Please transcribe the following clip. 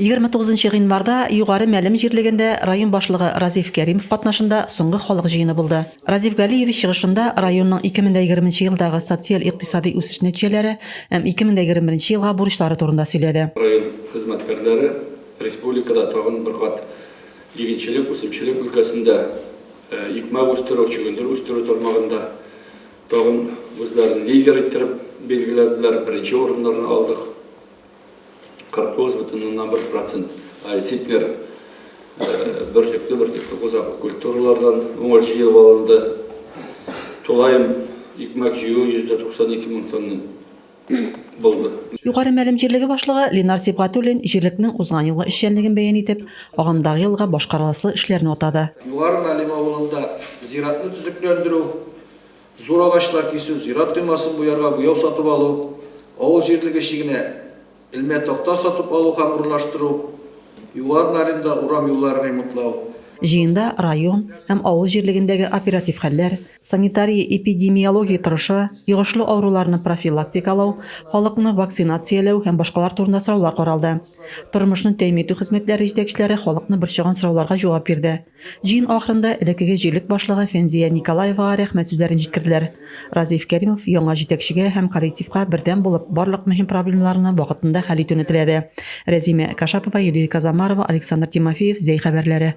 Егерме тугызынчы гыйнварда Югары Мәлем җирлегендә район башлыгы Разиф Кәримов катнашында соңгы халык җыены булды. Разиф Галиевич чыгышында районның ике мең дә егерме нче елдагы социаль-икътисади үсеш нәтиҗәләре һәм ике мең дә егерме беренче елга бурычлары турында сөйләде. Район хезмәткәрләре республикада тагын бер кат игенчелек, үсемчелек өлкәсендә, икмәк үстерү, чөгендер үстерү тармагында тагын үзләрен лидер иттереп билгеләделәр, беренче урыннарны алдык. 49,1 процент зиппер бөртекле бөртекле кузаклы культуралардан уңыш җыелып алынды. Тулаем икмәк җыю 192 мең тонна булды. Югары Мәлем җирлеге башлыгы Ленар Сибгатуллин җирлекнең узган елгы эшчәнлеген бәян итеп, агымдагы елга башкарыласы эшләрне атады. Югары Мәлем авылында зиратны төзекләндерү Зур агачлар кисү, зират коймасын буярга буяу сатып алу, авыл җирлеге чигенә элмә такта сатып алу һәм урнаштыру, Югары Нарында урам юлларын ремонтлау, Җыенда район һәм авыл җирлегендәге оператив хәлләр, санитария-эпидемиология торышы, йогышлы авыруларны профилактикалау, халыкны вакцинацияләү һәм башкалар турында сораулар каралды. Тормышны тәэмин итү хезмәтләре җитәкчеләре халыкны борчыган сорауларга җавап бирде. Җыен ахырында элеккеге җирлек башлыгы Фәнзия Николаевага рәхмәт сүзләрен җиткерделәр. Разиф Кәримов яңа җитәкчегә һәм коллективка бердәм булып, барлык мөһим проблемаларны вакытында хәл итүне теләде. Рәзимә Кашапова, Юлия Казамарова, Александр Тимофеев, Зәй хәбәрләре.